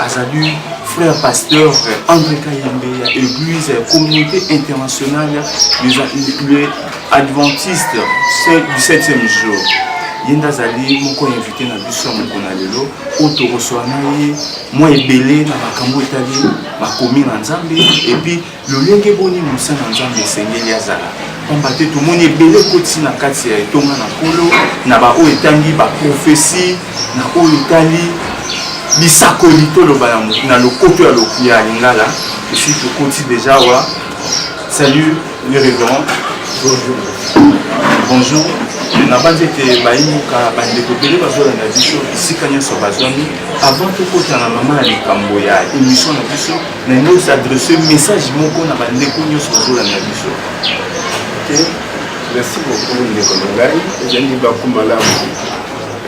azali frère pasteur André Kayembe ya église communauté internationale les adventistes du 7e jour ye nde azali moko ya invité na biso ya mokolo na lelo oyo tokoswa na ye mwa ebele na makambo etali makomi na nzambe epuis Lolenge boni mosa na Nzambe esengeli azala? Pamba te tomoni ebele ekotisi na kati ya etonga na Nkolo, na baoyo etangi baprofesi, na oyo etali bisakoli toloba na lokoto ya lokuya lingala esi tokoti deja wa salut le révérend bonjour bonjour nabanzi ete bayimuka bandeko ebele bazolanda biso esika nyonso bazwami avant tokota na mama ya likambo ya émission na biso nalingi osadresse message moko na bandeko nyonso bazolanda biso te merci beaucoup ndeko na ngai ezali libaku malamu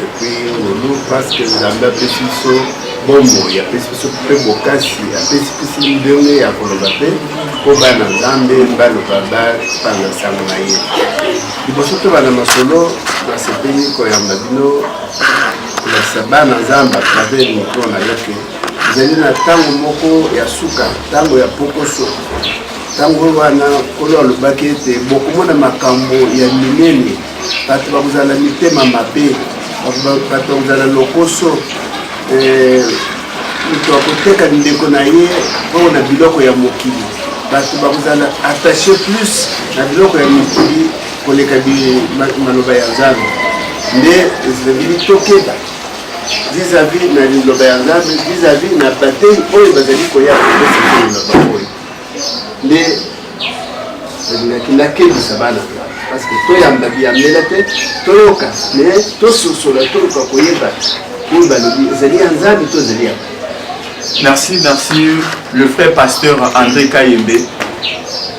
epuis ngolu parceke nzambe apesi biso bomoi apesi biso mpe bokasi apesi biso ndenge ya koloba mpe mpo bana nzambe baloba bapanga nsango na ye liboso tobanda masolo nasepeli koyamba bino kolakisa bana nzambe atravers mikro na yo te Ezali na ntango moko ya suka, ntango ya pokoso. Ntango wana Nkolo alobaki ete bokomona makambo ya minene, bato bakozala mitema mabe, bato bakozala lokoso, eh, moto akoteka ndeko na ye oyo na biloko ya mokili. Bato bakozala attache plus na biloko ya mokili koleka maloba ya Nzambe. nde ezali tokeba vis-à-vis na liloba ya nzambe vis-à-vis na batei oyo bazali koya kokosakoyo na bango oyo nde nalingaki nakebisa bana parce que toyamba biyambela te toyoka me tososola toluka koyeba oyo balobi ezali ya nzambe to ezali ya merci merci le frère pasteur andré kayembe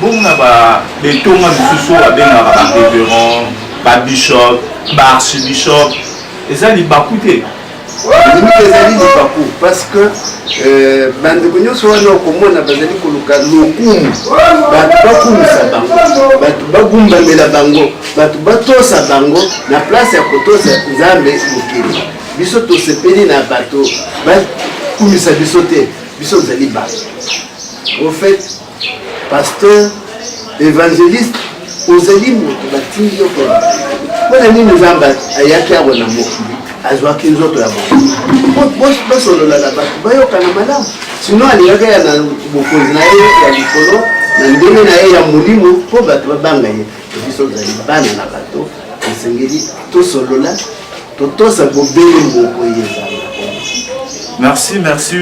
bongo na ba betonga misusu oyo babengaka ba reverend ba bishop ba archibishop eza libaku te elingi ezali libaku parce que euh, bandeko nyonso wana okomona bazali koluka lokumu bato bakumisa bango bato bagumbamela bango bato batosa bango na place ya kotosa nzambe mokili biso tosepeli na bato bakumisa biso te biso tozali bato au fait Pasteur evangeliste ozali moto batindi yo pona mpona nini nzambe ayaki awa na mokili azwaki nzoto ya moto basolola na bato bayokana malamu sino alingaki ya na bokonzi na ye ya likolo na ndenge na ye ya molimo mpo bato babanga ye biso ozali bana na bato esengeli tosolola totosa bobele moko ye ezala merci merci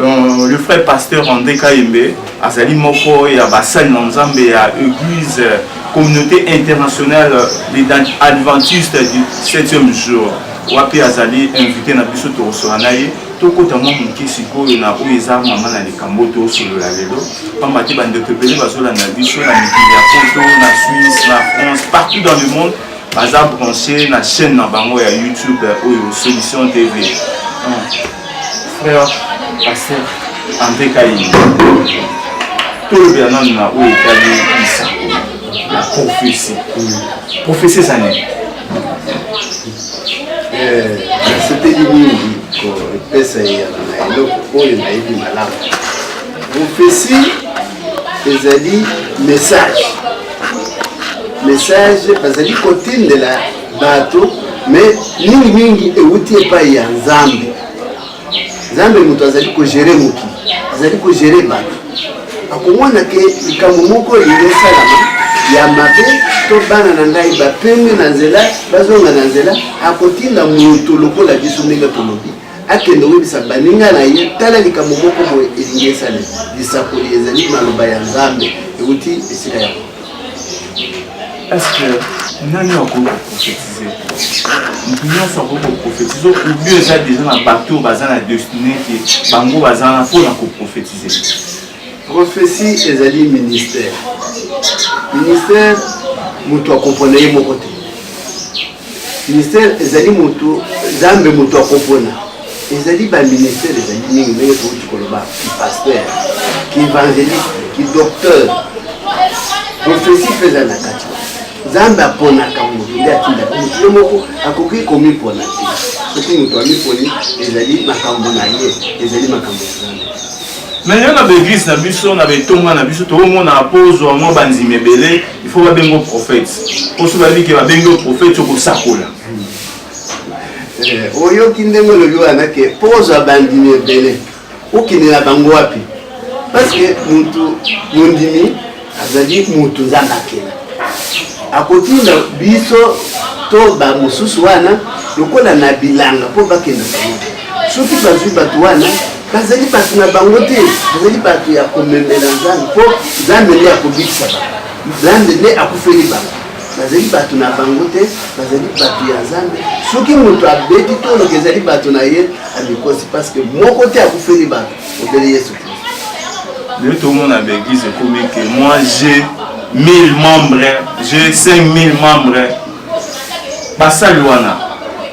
Euh, le frère pasteur André Kayembe azali moko ya basali na nzambe ya église communauté internationale des adventistes du 7e jour wapi azali invité na biso tokosola na ye tokota mwa moke sikoyo na oyo eza mama na likambo tosolola lelo mpamba te bandeko ebele bazolanda biso na mikili ya poto na suisse na france partout dans le monde baza branche na chaîne na bango ya youtube oyo solution tv frère pasteur andre kaini tolobela nanu na oyo etali lisako la prophesie prophesie eza nini nasepeli mingi kopesa eyano na eloko oyo nayebi malamu prophesie ezali message message bazali kotindela bato me mingi mingi ewuti epai ya nzambe nzambe moto azali kogere mokili azali kogere bato akomona ke likambo moko elingi esalama ya mabe to bana na ngai bapemi na nzela bazonga na nzela akotinda moto lokola biso ndenge tolobi akende oyebisa baninga na ye tala likambo moko boye elingi esalema lisakoli ezali maloba ya nzambe euti esika yango Est-ce que nani akoki koprofetize moto nyonso akoki koprofetize obio eza deja na bato oyo baza na destine te bango baza na mpo na koprofetize profesi ezali ministère ministère moto akompona ye moko te Ministère ezali moto Nzambe moto akopona. Ezali ba ministère ezali mingi ndenge touti koloba ki pasteur, ki evangeliste, ki docteur. Prophesie mpe eza na kati. Nzambe aponaka moto nde atindaka moto ye moko akoki komipona te. Soki moto amiponi ezali makambo na ye, ezali makambo ya Nzambe. Mais yo na ba église na biso na ba etonga na biso tokomona mpo ozwa mwa bandimi ebele il faut babenga yo prophète mpo soki bayebi ke babengi yo prophète okosakola eh, oyoki ndenge olobi wana ke mpo ozwa bandimi ebele okende na bango wapi parce que mutu mondimi azali mutu nzambe akela akotinda biso to bamosusu wana lokola na bilanga mpo bakenda bango soki bazwi bato wana bazali bato na bango te bazali bato ya komemela nzambe mpo nzambe nde akobikisa bango nzambe nde akufeli bango bazali bato na bango te bazali bato ya nzambe soki moto abeti to oloka ezali bato na ye amikosi parceke moko te akufeli bato obele yesu kristo lelo tomona baeglise ekomi ke moi je 1000 membres je 5000 membres basali wana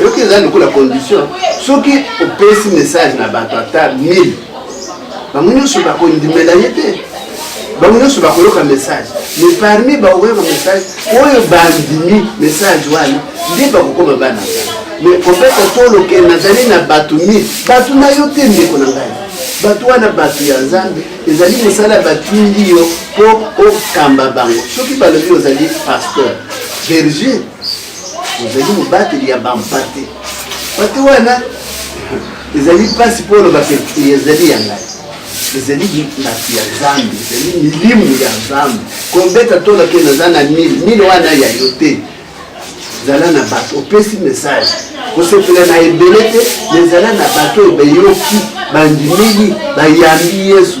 oyoki eza lokola condition soki opesi message na bato ata 1000 bango nyonso bakondimela ye te bango nyonso bakoyoka message mais parmi bakoyoka message oyo bandimi message wana nde bakokoma bana mais kopesa toloke nazali na bato 1000 bato na yo te ndeko na ngai bato wana bato ya nzambe ezali mosala batindi yo mpo okamba bango soki balobi ozali pasteur berger ozali mobateli ya bampate mpate wana ezali mpasi mpo oloba te ezali ya ngai ezali bato ya nzambe ezali milimu ya nzambe kobeta to nake naza na mile mile wana ya yo te zala na bato opesi message kosepela na ebele te me zala na bato oyo bayoki bandimeli bayambi yesu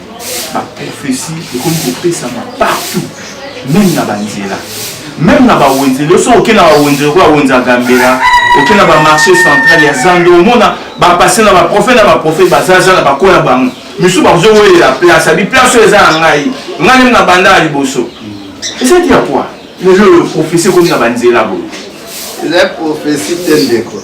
ba prophetie ekomi kopesama partout meme na banzela meme na bawenzeli oso oke na bawenzeli okoya wenza gambela oke na bamarché central ya zando omona bapase na baprofete na baprofete bazaza na bakoya bango misusu bazowelela place abi place oyo eza ya ngai ngai nemi na banda ya liboso ezati ya poi lelo oyo prophesie ekomi na banzela boye eza prophesie te ndeko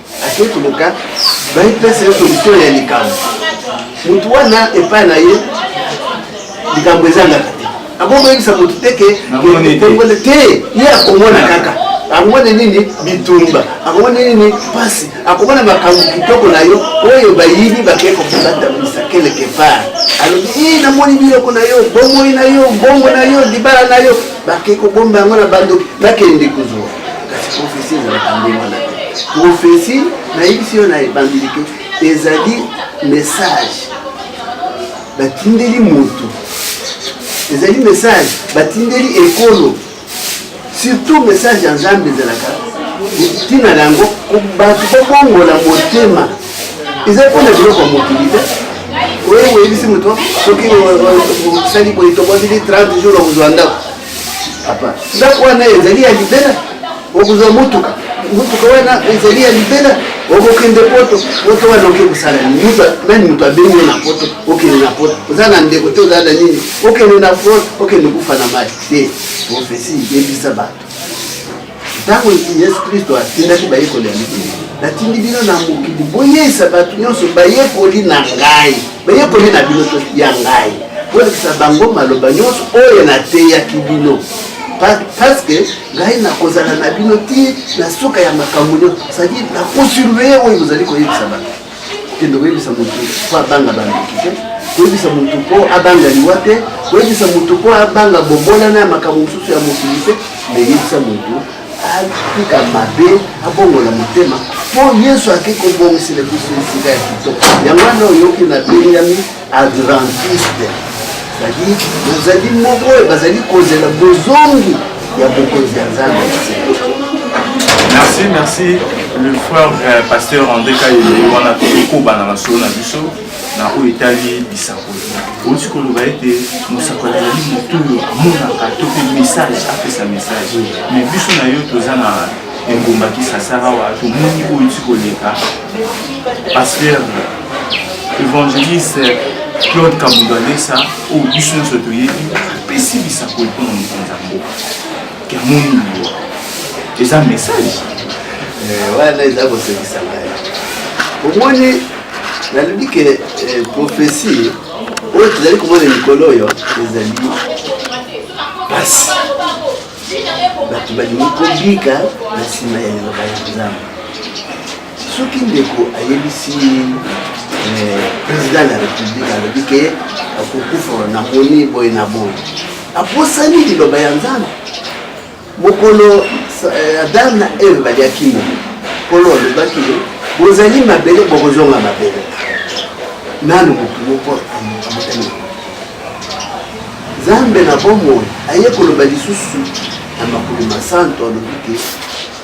Akeyi koluka baepesa ye solution ya likambo. Motu wana epai na ye likambo ezangaka te. Abongo yebisa motu te ke te ye akomona kaka akomona nini bitumba akomona nini pasi akomona makambo kitoko na yo oyo bayibi bakei kokobatamisa keleke part alobi i namoni biloko na yo bomoi na yo mbongo na yo libala na yo bakei kobomba yango na bandoki bakende kozwa kasi profesi ezalaka nde wana profesi nayebisi yo na ebandeli ke ezali message batindeli moto ezali message batindeli ekolo surtout message ya nzambe ezalaka ntina na yango bato babongola motema eza mpo na biloko ya mokili te oyo oyebisi moto soki osali boye tobwazili 30 jour okozwa ndako Papa, ndako wana ezali ya libela, okozwa motuka, motuka wana ezali ya libela, okokende poto, poto wana oke kosala nini? Nani moto abengi na poto? Okende na poto, oza na ndeko te, oza na nini? Okende na poto, okende kufa na mai te. Profesi yebisa bato Ntango Yesu Klisto atindaki bayekoli ya mikili, natindi bino na mokili, boyeisa bato nyonso bayekoli na ngai, bayekoli na bino to ya ngai, bolakisa bango maloba nyonso oyo nateyaki bino paske ngai nakozala na bino ti na suka ya makambo nyonso, sadi nakosurveye oyo bozali koyebisa bato. kokende koyebisa motu mpo abanga bandoki te koyebisa motu mpo abanga liwa te koyebisa motu mpo abanga bomonana ya makambo mosusu ya mokili te meyebisa motu atika mabe abongola motema mpo yesu ake kobongisela biso esika ya kitoko yango wana oyoki na bengami Adventiste ezali bozali moko oyo bazali kozela bozongi ya bokonzi ya nzambe merci merci le frère euh, pasteur andré kayele wana tokobana na solo na biso na oyo etali bisakoli outi koloba ete mosakoli azali moto oyo amonaka to mpe message apesa message mais biso na yo toza na engumba kisasara wa tomoni oyo ti koleka pasteur évangéliste claude kabundo alesa oyo biso nyonso toyebi apesi lisakoli mpo na mokonzi ya mboka ke amoni liwa eza message eh, wana eza kosekisa ngai omoni nalobi ke eh, prophesie oyo tozali komona likolo oyo ezali mpasi bato balingi kobika na nsima ya liloba ya nzambe soki ndeko ayebisi eh, président de la république alobi ke akokufa na moni boye na boye abosani liloba ya nzambe mokolo eh, adam na eve baliaki mo nkolo alobaki bozali mabele bokozonga mabele nanu motu moko amotani nzambe na bomoi aye koloba lisusu na makolo masanto alobi te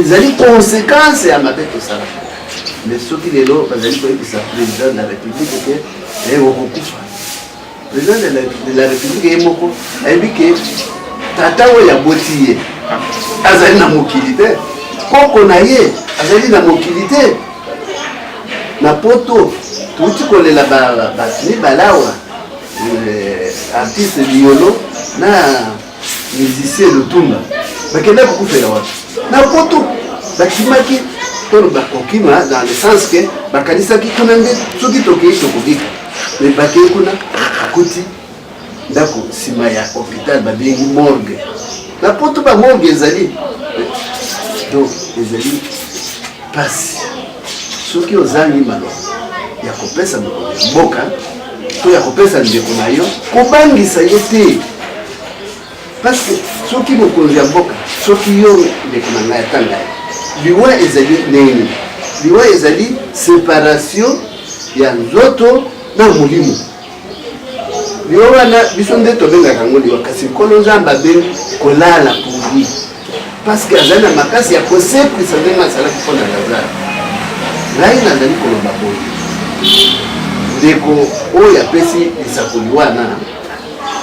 ezali konsekanse ya mabe tosalaka mais soki lelo bazali koyebisa président de la république ke eye okokufa président de la république ye moko ayebi ke tata oyo aboti ye azali na mokili te koko na ye azali na mokili te na poto touti kolela bato mibale awa eh, artiste liolo na musicien lutunda bakenda kokufela wapi na poto bakimaki tolo bakokima dans le sens ke bakanisaki kuna nde soki tokei tokobika me bakei kuna akuti ndako nsima ya hôpital babengi morgue na poto bamorgue ezali donc ezali mpasi soki ozangi maloba ya kopesa mokonzi ya mboka to ya kopesa ndeko na yo kobangisa ye te parceke soki mokonzi ya mboka soki yo ndeko na ngai ata ngai liwa ezali nini liwa ezali separation ya nzoto na molimo yo wana biso nde tobengaka yango liwa kasi nkolo nzambe abengi kolala pourvi parceke azali na makasi ya kosekwisa ndenge asalaki mpo na lazare ngai nazali koloba boye ndeko oyo apesi lisakoli wana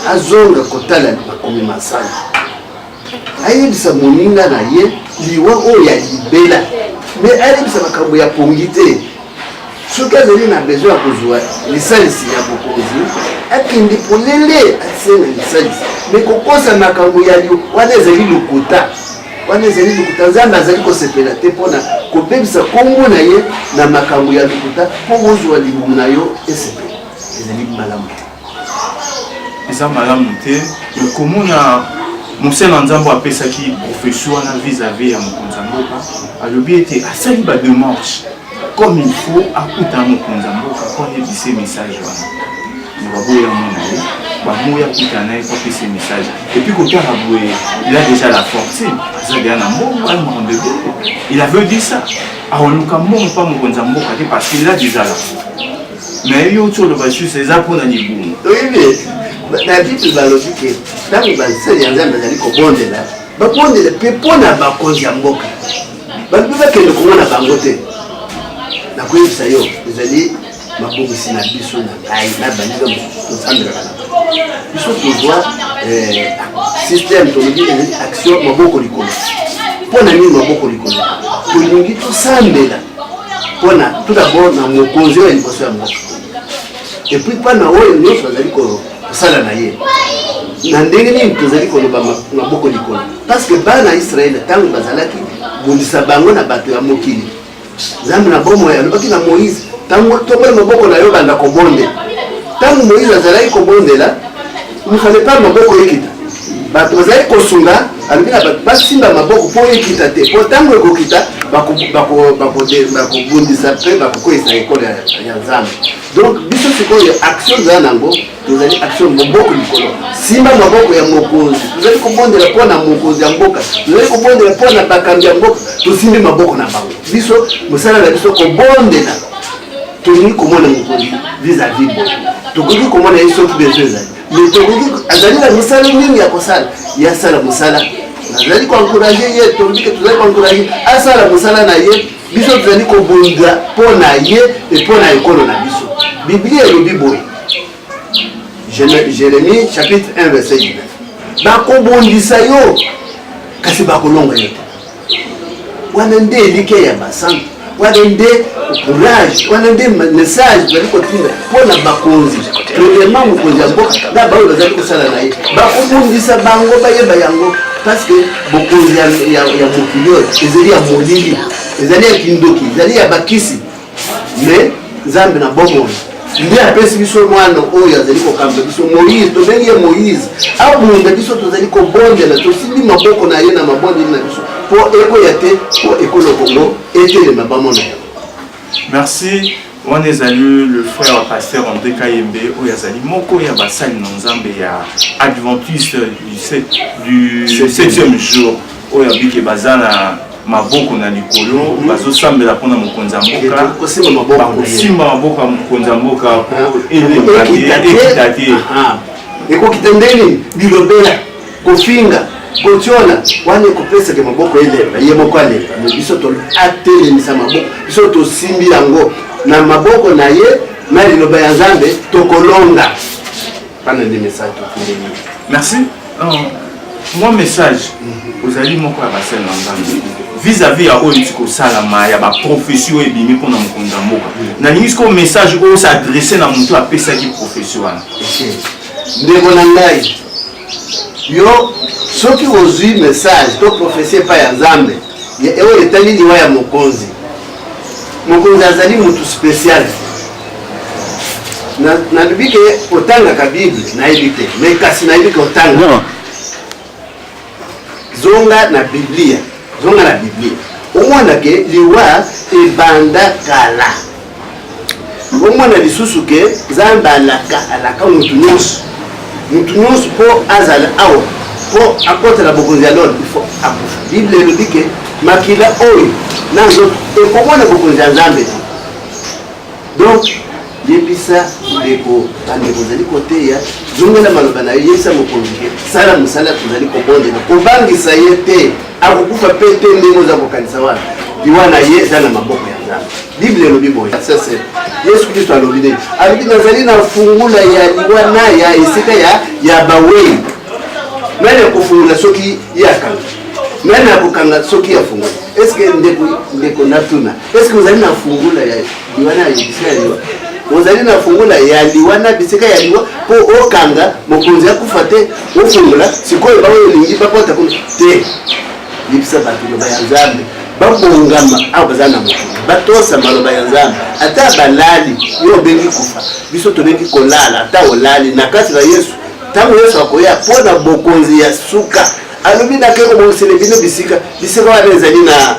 azonga kotala makomi masali ayebisa moninga na ye liwa oyo ya libela me ayebisa makambo ya pongi te soki azali na besoin ya kozwa lisalisi ya bokonzi akende polele asenga lisalisi me kokosa makambo ya lio wana ezali lokuta wana ezali lokuta nzambe azali kosepela te mpona kobebisa nkombo na ye na makambo ya lokuta mpo bozwa libumu na yo esepela ezali malamu te eza malamu te me komona mosali na nzambe apesaki profesio wana vis-à-vis ya mokonzi ya mboka alobi ete asali bademarche comme il faut akuta mokonzi ya mboka po ayebise message wana na baboya mona ye bamoya akuta na ye po apesa message epuis kotala boye il a déjà la fortune aza deya na mbongo aye makambo ebele il avait dit ça aoluka mbongo mpa mokonzi ya mboka te parce qu'il a déjà la Mais yo tu oloba juste eza mpo na libumu. Oyebi babible balobi ke ntango basali ya nzambe azali kobondela babondela mpe mpo na bakonzi ya mboka balobi bakende komona bango te nakoyebisa yo ezali mabongisi na biso na ngai na baninga mosusu tosambelaka na biso tozwa eh, système tolobi ezali action maboko likolo mpo na nini maboko likolo tolingi tosambela mpona tout d'abord na mokonzi oyo ya liboso ya mboka epuis mpa na oyo nyonso azali kosala na ye na ndenge nini tozali koloba maboko likolo parce que bana ya israele ntango bazalaki bundisa bango na bato ya mokili nzambe na bomoi alobaki na moïse ntango tomboli maboko na yo banda kobonde ntango moïse azalaki kobondela Il fallait pas maboko ekita bato bazali kosunga alobi na bato basimba maboko mpo ekita te mpo ntango ekokita bakobundisa mpe bakokweyisa ekolo ya nzambe donc biso sikoyo action tozali nango tozali action moboko likolo simba maboko ya mokonzi tozali kobondela mpo na mokonzi ya mboka tozali kobondela mpo na bakambi ya mboka tosimbi maboko na bango biso mosala na biso kobondela tolingi komona mokonzi vis-à-vis boye tokoki komona ye soki bezo ezali mais tokoki azali na misala mingi ya kosala ye asala mosala nazali koencourage ye tolobike tozali koencourage asala mosala na ye biso tozali kobunda mpo na ye e mpo na ekolo na biso biblia elobi boye jérémie chapitre 1 verset 19 bakobundisa yo kasi bakolonga yo te wana nde elikya ya basantu wana nde courage wana nde message bazali kotinda mpo na bakonzi premièrement mokonzi ya mboka na baoyo bazali kosala na ye bakobundisa bango bayeba yango parce que bokonzi ya mokili oyo ezali ya molili ezali ya kindoki ezali ya bakisi mais nzambe na bomoi nde apesi biso mwana oyo azali kokamba biso moïse tobengi ye moïse abunda biso tozali kobondela tosimbi maboko na ye na mabondeli na biso mpo ekoya te mpo ekolo kongo etelema bamona yango merci wana ezali le frère pasteur andré kayembe oyo azali moko ya basali na nzambe ya adventiste du 7e jour oyo abike baza na maboko na likolo hmm. bazosambela mpona mokonzi ya mboka bakosimba maboko ya mokonzi ya mboka po ah. elemba te ekita te ah, ah. ekokita ndeni bilobela kofinga kotyola wana ekopesaka maboko elemba ye moko alemba me biso atelemisa maboko biso tosimbi yango na maboko na ye na liloba ya nzambe tokolonga Bana nde message tokendeli. Merci. mwa message ozali moko ya basene na nzambe vis-à-vis ya oyo euti kosalama ya baprofesi oyo ebimi mpo na mokonzi ya mboka nalingi sikoyo message oyo s'adresse na motu apesaki profesi wana ndeko na ngai yo soki ozwi message to profesi epai ya nzambe Oyo etali liwa ya mokonzi, mokonzi azali motu special. Nalobi ke otangaka Bible, nayebi te me kasi nayebi ke otanga. Zonga na Biblia, zonga na Biblia omona ke liwa ebanda kala. bomona lisusu ke nzambe alaka alaka motu nyonso motu nyonso mpo azala awa mpo akota na bokonzi ya lona ifo akufa bible elobi ke makila oyo na nzoto ekomona bokonzi ya nzambe te donc yebisa ndeko bandeko ozali koteya zongela maloba na yo yebisa mokonzi ke sala mosala tozali kobondela kobangisa ye te akokufa mpe te ndenge oza kokanisa wana liwa na ye eza na maboko ya nzambe biblia elobi boye sese yesu kristo alobi nini alobi nazali na fungula ya liwa na ya esika ya ya bawei nani akofungula soki ye akanga nani akokanga soki afungoli eske ndeko ndeko natuna Est-ce que ozali na fungula ya liwa na bisika ya liwa? Ozali na fungula ya liwa na bisika ya liwa mpo okanga mokonzi akufa te, ofungola sikoyo baoyo olingi bakota kuna te. Yebisa bato loba ya Nzambe babongama awa baza na moto batosa maloba ya Nzambe ata balali yo obengi kufa biso tobengi kolala ata olali na kati na Yesu ntango Yesu akoya mpo na bokonzi ya suka alobi nake kobongisele bino bisika bisika wana ezali na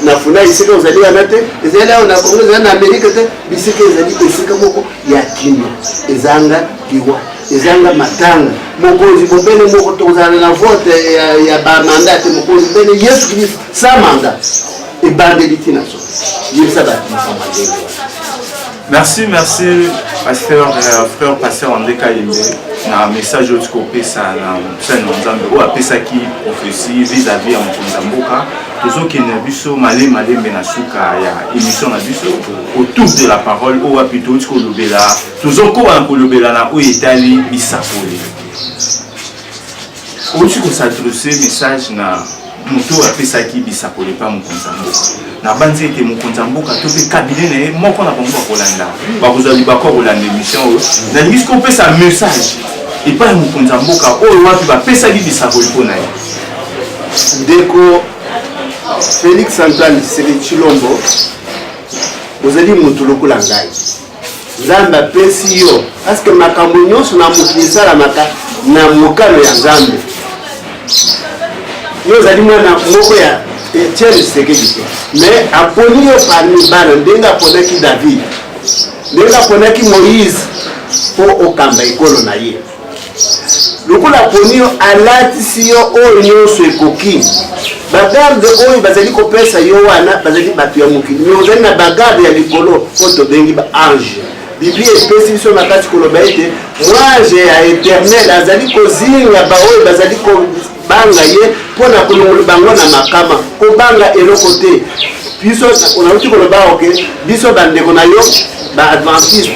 na funai esika ozali wana te ezali awa na kongo ezali na amerika te bisika ezali esika moko ya kino ezanga liwa ezanga matanga mokonzi bobele moko tokozala na vote ya, ya bamanda te mokonzi bene yesu kristo sa manda ebandeli ntina so yebisa bato makambo ndenge Merci, merci, pasteur, euh, frère, pasteur André Kayembe, na message oyo tikopesa na mosali na nzambe oyo apesaki prophesie vis-à-vis ya mokonzi ya mboka tozokende na biso male malembe na suka ya émission na biso autour de la parole oyo wapi touti kolobela tozokoba na kolobela na oyo etali bisakoli Osi kosadrese message na moto oyo apesaki bisakola epai mokonzi ya mboka nabanzi ete mokonzi ya mboka to mpe kabine na ye moko na bango bakolanda bakozwa libako ya kolanda émission oyo nalingi soki opesa message epai ya mokonzi ya mboka oyo wapi bapesaki bisakoli mpo na ye ndeko félix antoine tshisekedi tshilombo ozali moto lokola ngai Nzambe apesi yo paske makambo nyonso na mokili esalamaka na mokano ya Nzambe. Yo ozali mwana moko ya Etienne Tshisekedi te, mais aponi yo parmi bana ndenge aponaki David, ndenge aponaki Moïse mpo okamba ekolo na ye. lokola aponi yo alatisi yo oyo nyonso ekoki bagarde oyo bazali kopesa yo wana bazali bato ya mokili me ozali na bagarde ya likolo oyo tobengi baange biblia epesi biso makasi koloba ete mwange ya eternel azali kozinga baoyo bazali kobanga ye mpo na kolongola bango na makama kobanga eloko te biso nauti koloba oke biso bandeko na yo baadventiste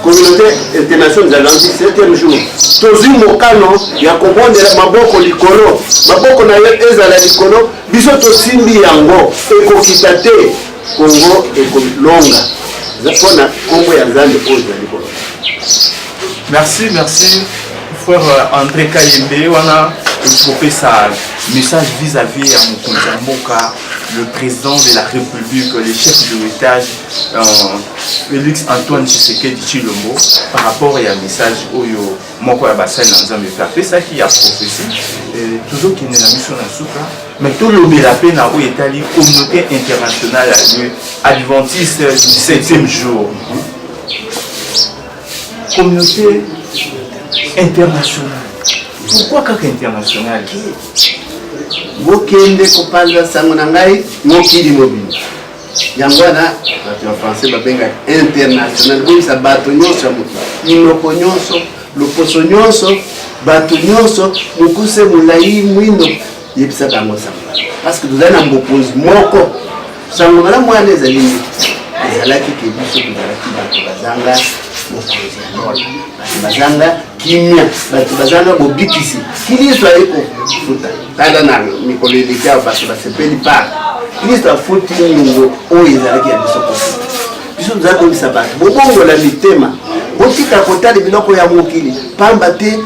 communaute internationale ya lundi septième jour tozwi mokano ya kobondela maboko likolo maboko na yo ezala likolo biso tosimbi yango ekokita te kongo ekolonga mpo na nkombo ya nzambe oyo ezali koloba merci merci frère euh, andré kayembe wana kopesa message vis-à-vis ya mokonzi ya mboka le président de la république le chef de l'étage Euh, Felix Antoine Tshisekedi Chilombo par rapport ya message oyo moko ya basali na Nzambe mpe apesaki ya prophetie euh, tozokende na biso na suka me tolobela mpe na oyo etali communauté internationale ya lieu adventiste du septième jour communauté internationale pourquoi kaka internationale bokende kopanza sango na ngai mokili mobimba yango wana bato ya français babengaka international boyisa bato nyonso ya moto minoko nyonso loposo nyonso bato nyonso mokuse molai mwindo yebisaka yango sango parceke tozali na mokonzi moko sango malamu wana ezali nini ezalaki ke biso tozalaki bato bazanga mokonzi ya lola bato bazanga kimia bato bazanga bobikisi kiliso aye kofuta Tala na mikolo eleki awa bato basepeli par kristo afuti nyongo oyo ezalaki ya biso kofuta biso tozali koyebisa bato bobongola mitema botika kotala biloko ya mokili mpamba te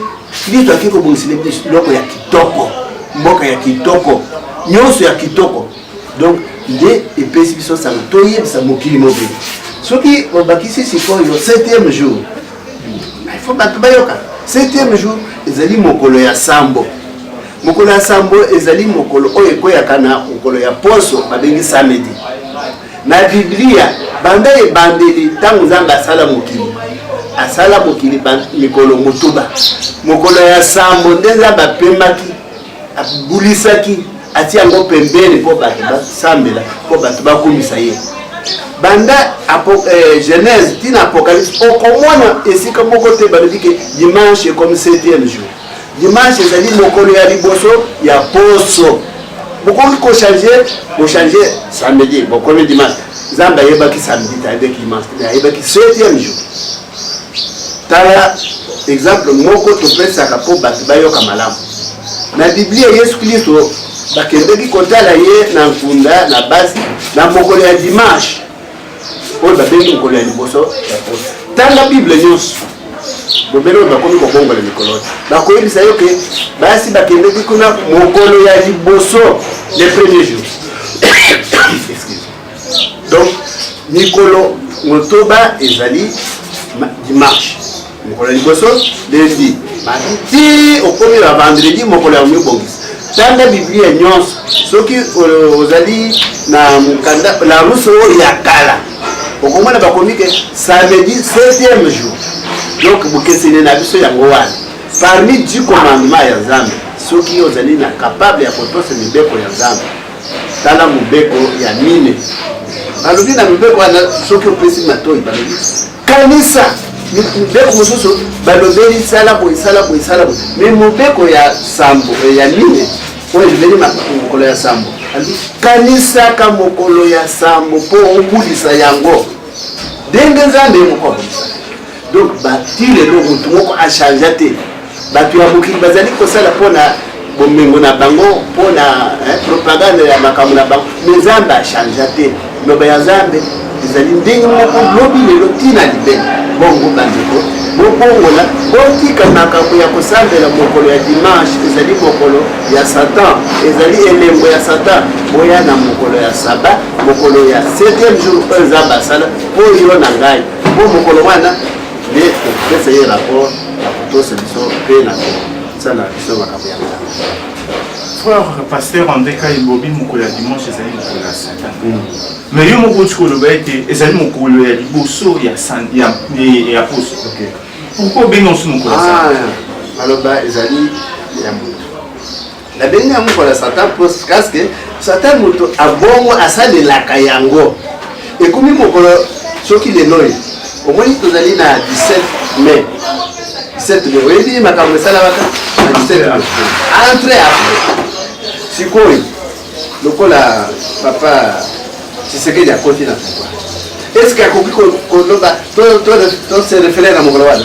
kristo akei kobongisela biso biloko ya kitoko mboka ya kitoko nyonso ya kitoko donc nde epesi biso sango toyebisa mokili mobili soki obakisi sikoyo septième jour il faut bato bayoka septième jour ezali mokolo ya sambo mokolo ya sambo ezali mokolo oyo ekweyaka na mokolo ya poso babengi samedi na biblia banda ebandeli ntango nzambe asala mokili asala mokili mikolo motuba mokolo ya sambo nde nzambe apemaki abulisaki atie yango pembeni mpo bato basambela mpo bato bakumisa ye banda eh, genèse ntina apocalypse okomona esika moko te balobi ke dimanche ekomi septième jour dimanche ezali mokolo ya liboso ya poso bokoki kochange bochange samedi bokomi dimanche nzambe ayebaki samedi te ayebaki dimanche te ayebaki septième jour Tala exemple moko topesaka mpo bato bayoka malamu. Na Biblia, Yesu Klisto bakendeki kotala ye na nkunda na basi na mokolo ya dimanche oyo babengi mokolo ya liboso ya poso. Tanga Bible nyonso bobele oyo bakomi kobongola mikolo te, bakoyebisa yo ke basi bakendeki kuna mokolo ya liboso le premier jour donc mikolo motoba ezali dimanche mokolo ya liboso lundi mardi ti okomi na vendredi mokolo ya komibongisa tanga biblia nyonso soki ozali na mokanda na rusu oyo ya kala okomona bakomi ke samedi 7e jour donc bokeseni na biso yango wana parmi du commandement ya nzambe soki ozali na kapable ya kotosa mibeko ya nzambe Tala mobeko ya mine. Balobi na mibeko wana soki opesi matoi balobi kanisa mibeko mosusu balobeli sala boye sala boye sala boye me mobeko ya sambo eh, ya mine oyo elobeli mokolo ya sambo kanisaka mokolo ya sambo mpo obulisa yango ndenge nzambe moko abulisa donc ba ti lelo motu moko achangea te bato ya mokili bazali kosala mpo na bomengo na bango mpo na propagande ya makambo na bango me nzambe achangea te loba ya nzambe ezali ndenge moko lobi lelo ntina libele bongo bandeko bobongola botika makambo ya kosambela mokolo ya dimanche ezali mokolo ya satan ezali elembo ya satan boya na mokolo ya saba mokolo ya 7e jour oyo nzambe asala mpo yo na ngai Mpo mokolo wana nde tokopesa ye rapport na kotosa biso mpe na kosala biso makambo ya nzambe frère pasteur andeka ebobi mokolo ya dimanche ezali mokolo ya satan mais yo moko oti koloba ete ezali mokolo ya liboso ya poso pourkoi obengi osu mokolo ya satan ah, aloba ezali ya moto nabengi yango mpona satan mpo kaske satan moto abongo asalelaka yango ekomi mokolo soki lelo oyo omoni tozali na 17 mai 17 mai oyebi makambo esalamaka na 17 mai entre apres sikoyo lokola papa tshisekedi akoti na pouvoir est ce que akoki koloba to se refere na mokolo wana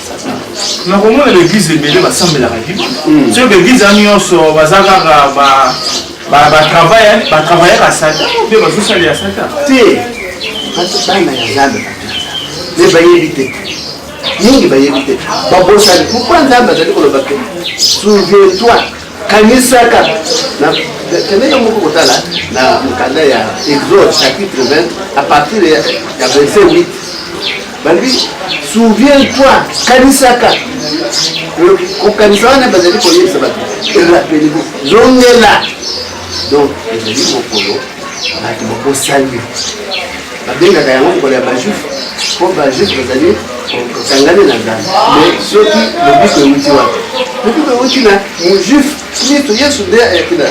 nakomona baeglise ebele basambelaka liba hmm. soki baeglise ya nyonso baza kaka batravaillaka satan mpe bazosala ya satan te bana ya nzambe me bayebi te mingi bayebi te babosani pourkui nzambe azali koloba te souvientoi kanisaka kende yo moko kotala na mokanda ya exode chapitre 20 à partir ya verset 8 balobi souviens toi kanisaka kokanisa wana bazali koyebisa bato erapeligo zongela donc ezali mokolo bato bakosali babengaka yango mokolo ya bajuif mpo bajuif bazali kokangani na nzambe mais soki lobiko euti wana lobiko euti na mojuif Kristo Yesu nde ayaki na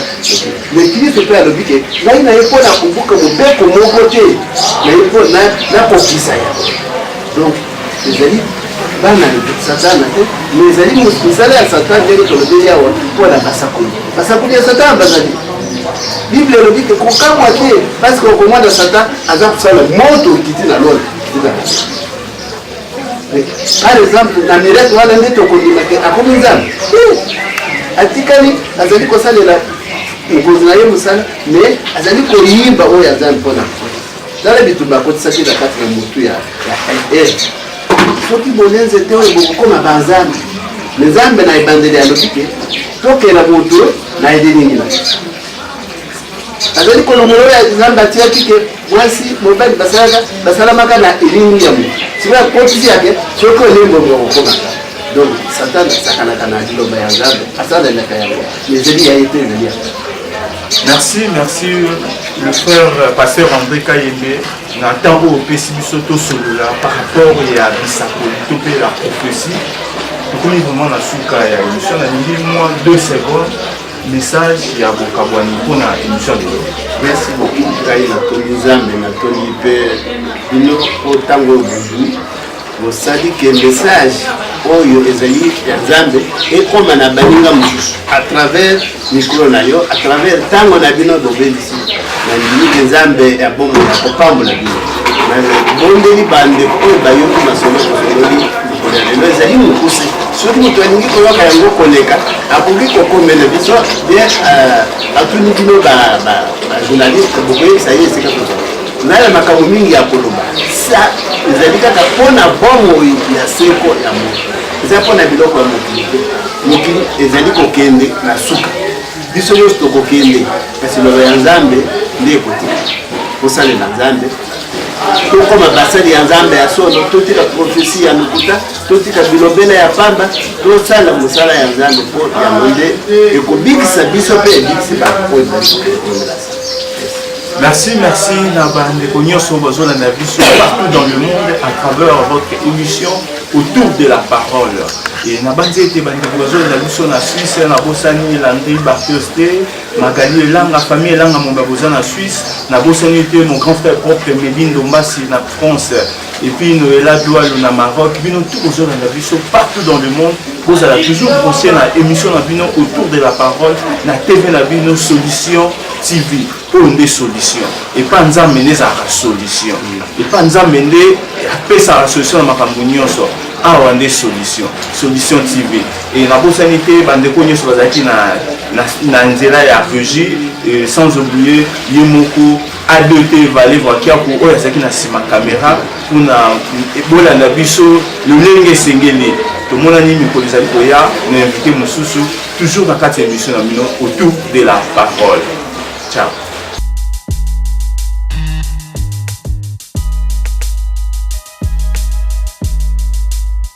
me Kristo mpe alobi ke ngai na ye mpo na kobuka mobeko moko te na ye mpo nakokisa yango donc ezali bana satana te me ezali misala ya satana ndenge tolobeli awa mpo na basakoli basakoli ya satana bazali bible elobi te kokamwa te parce que okomona satan aza kosala moto okiti na lola Par exemple, na miracle wana nde tokondima ke akomi nzambe atikali azali kosalela mokonzi na ye mosala me azali koyimba oyo ya nzambe mpona tala bitumba akotisaki na kati na motu ya er soki bolenze te oyo bokokoma banzambe me nzambe na ebandeli alobi te tokela moto na elilingi na azali kolongola oyo nzambe atiyaki ke mwasi mobali basalaka basalamaka na elimi ya moto sikoyo akotisi yake soki olembongo okokoma donc satan asakanaka na liloba ya nzambe asalanaka yango ezali ya ye te ezali ya merci merci le frère pasteur andré kayembe na ntango oyo opesi biso tosolola par rapport ya bisakoli to mpe la prophétie tokomi vraiment na suka ya émission nalingi mwa deux secondes message ya bokabwani mpo na émission lelo merci beaucoup ngai natoli nzambe natoli mpe bino mpo ntango oyo bozwi bosali ke message oyo ezali ya nzambe ekoma na baninga mosusu à travers mikolo na yo à travers ntango na bino bobelisi na ndimike nzambe ya bomoi ya kopambola bino nabondeli bandeko oyo bayoki masolo osololi ya lelo ezali mokuse soki moto alingi koyoka yango koleka akoki kokomela biso de euh, atuni bino bajournaliste bokoyebisa ye esika tozala na ya makambo mingi ya koloba sa ezali kaka mpo na bomoi ya seko ya moto eza mpo na biloko ya mokili te mokili ezali kokende na suka biso nyonso tokokende kasi loba ya nzambe nde ekotika kosalela nzambe tokoma basali ya nzambe ya solo totika profesi ya lokuta totika bilobela ya pamba tosala mosala ya nzambe mpo yango nde ekobikisa biso mpe ebikisi bato oyo baokomela Merci, merci Nabande Konyoso Bazola Nabiso partout dans le monde à travers votre émission autour de la parole. Et Nabande était Bande Bazola Nabiso na Suisse, na Bossani, Landry Barthes Magali Elanga, famille Elanga Momba boza na Suisse, na bosani te mon grand frère propre Medi Ndombasi na France, et puis Noëlla Doualou na Maroc, bino tout bozolanda biso partout dans le monde, bozala toujours branché na émission na bino autour de la parole na TV na bino Solution TV oyo nde solution epa nzambe nde ezalaka solution epa nzambe nde apesaka solution na makambo nyonso awa nde solution solution tv Et nabosani te bandeko nyonso bazalaki na, na, na nzela ya regie euh, sans oublier ye moko adt vale vakiaku oyo azalaki na nsima kamera mpona bolanda biso lolenge esengeli tomonani mikolo ezali koya na invité mosusu toujours na kati ya émission na bino autour de la parole ciao